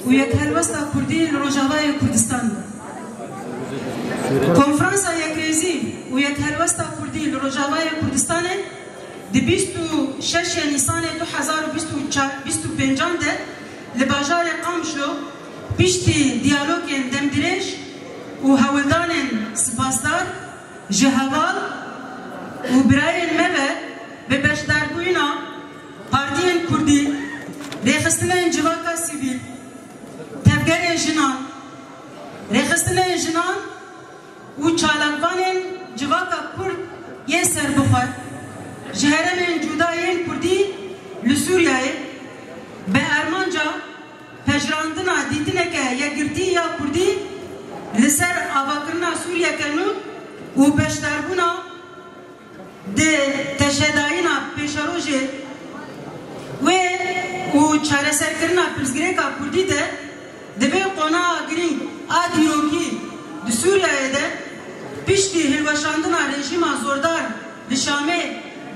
û yek helwesta Kurdî li Rojavayê Kurdistan be. Konferansa Yekrêzî û yek helwesta Kurdî li Rojavayê Kurdistanê di bîst û şeş ê Nîsanê du hezar û bîst û çar bîst û pêncan de li bajarê Qamişlo piştî diyalogên demdirêj û hewldanên sipasdar ji heval û birayên me ve bi beşdarbûyîna Partiyên Kurdî, rêxistinên civaka sivîl, tevgerê jinan, rêxistinên jinan û çalakvanên civaka Kurd yên serbixwe ji heremên cuda yên Kurdî li Sûriyeyê bi armanca pejirandina dîtineke yekgirtî ya Kurdî li ser avakirina Sûriyeke nû û beşdarbûna Di teşedayîna pêşerojê wê û çareserkirina pirsgirêka kurdî de di vê qonaxa girîng a dîrokî di Sûriyeyê de piştî hilweşandina rejîma zordar li Şamê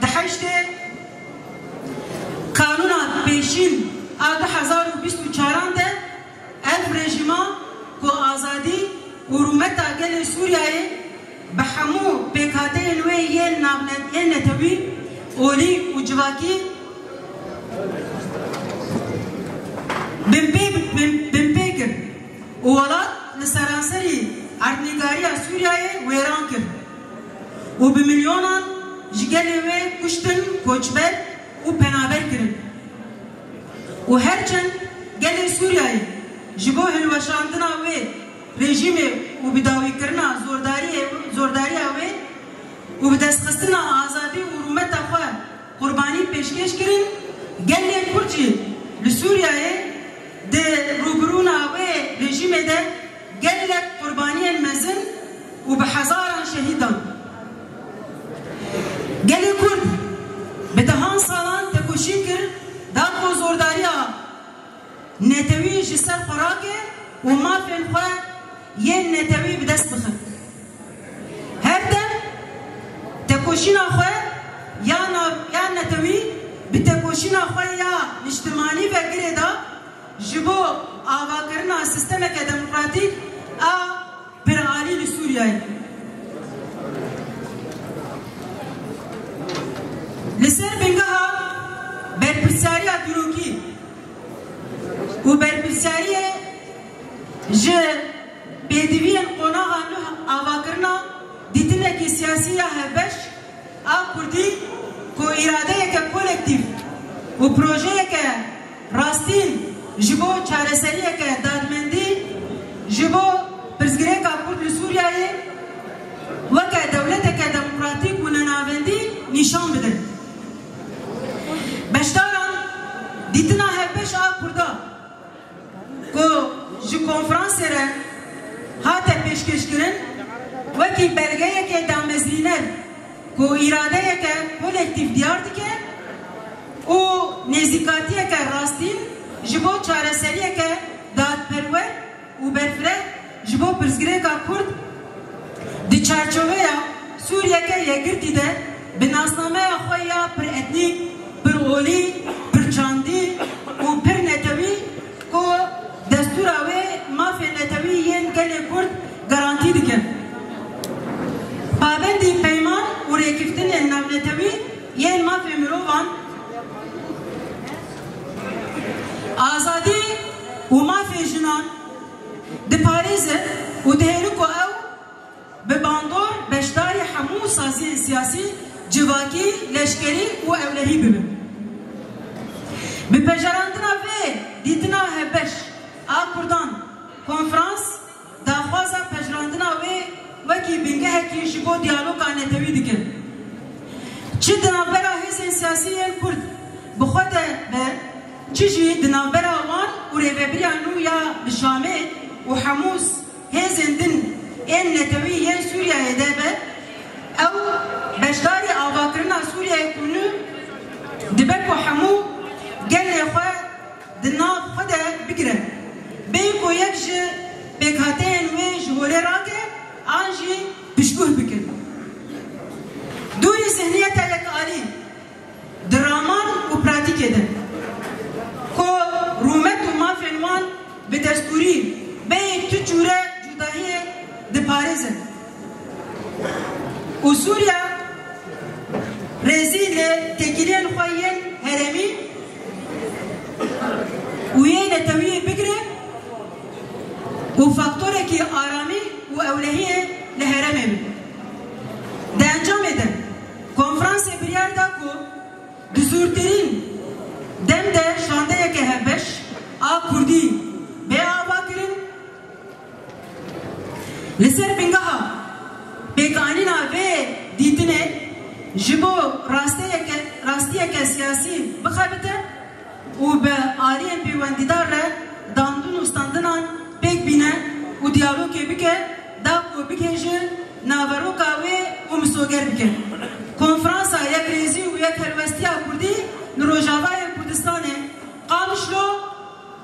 di heştê Kanûna Pêşîn a du hezar û bîst û çaran de Ev rejîma ku azadî û rûmeta gelê Sûriyeyê bi hemû pêkhateyên wê yên navnetnê netewî, olî û civakî binpê kir û welat li seranserî erdnîgariya Sûriyeyê wêran kir û bi milyonan ji gelê wê kuştin, koçber û penaber kirin. û her çend gelê Sûriyeyê ji bo hilweşandina wê rejîmê û bi dawîkirina zordariya wê û bi destxistina azadî û rûmeta xwe qurbanî pêşkêş kirin, gelê Kurd jî li Sûriyeyê di rûbirûna wê rejîmê de gelek qurbaniyên mezin û bi hezaran şehîdan. Gelê Kurd bi dehan salan tekoşî kir da ku zordariya netewî ji ser xwe rake û mafên xwe yên netewî bi dest bixe. Her dem tekoşîna xwe ya ya netewî bi tekoşîna xwe ya niştimanî ve girêda ji bo avakirina sîstemeke demokratîk a Pir alî li Sûriyeyê li ser bingeha berpirsyariya dîrokî û berpirsyariyê ji pêdiviyên qonaxan li avakirina dîtinekî siyasî ya hevbeş a Kurdî ku îradeyeke kolektîf û projeyeke Rastîn, ji bo çareseriyeke dadmendî ji bo pirsgirêka kurd li Sûriyeyê weke dewleteke demokratîk û nenavendî nîşan bidin. Beşdaran dîtina hevbeş a Kurda ku ji konferansê re hate pêşkêşkirin wekî belgeyekê damezrîner, Ku îradeyeke kolektîf diyar dike û nêzîkatiyeke rastîn ji bo çareseriyeke dadperwer û berfireh ji bo pirsgirêka kurd di çarçoveya Sûriyeke yekgirtî de bi nasnameya xwe ya piretnîk, pirolî, pirçandî û pirnetewî ku destûra wê mafên netewî yên gelê kurd Garantî dikin pabendî peyman û rêkiftinên navnetewî yên mafê mirovan, azadî û mafê jinan diparêzin û dihêlin ku ew bi bandor beşdarî hemû saziyên siyasî, civakî, leşkerî û ewlehî bibin. Bi pejarandina vê dîtina hevbeş a kurdan konferans, daxwaza pejirandina wê wekî bingehekî ji bo diyaloga netewî dikin, çi di navbera hêzên siyasî yên Kurd bi xwe de be, çi jî di navbera wan û rêvebiriya nû ya li Şamê û hemû hêzên din ên netewî yên Sûriyeyê de be, ew beşdarî avakirina Sûriyeyê ku nû dibe ku hemû gelê xwe. di nav xwe de bigire, bê ku yek ji pêkhateyên wê ji holê rake an jî pişguh bikin. Dûrî zihniyeta yekalî di raman û pratîkê de ku rûmet û mafên wan bi destûrî bê yek tu çûre cûdahiyê diparêzin. Û Sûriya rêzî li têkiliyên xwe yên herêmî û yê netewîyê bigire û faktorekî aramî û ewlehiyê li herêmê be. Di encamê de konferansê biryar da ku di zûrtirîn dem de şandeyeke hevbeş a kurdî bê avakirin. Li ser bingeha pêkanîna vê dîtinê ji bo rastiyeke siyasî bixebite û bi aliyên pêwendîdar re dandin û standinan pêk bîne û diyalogê bike da ku bike ji naveroka wê û misoger bike Konferansa Yekrêzî û Yekhelwestiya Kurdî li Rojavayê Kurdistanê Qamişlo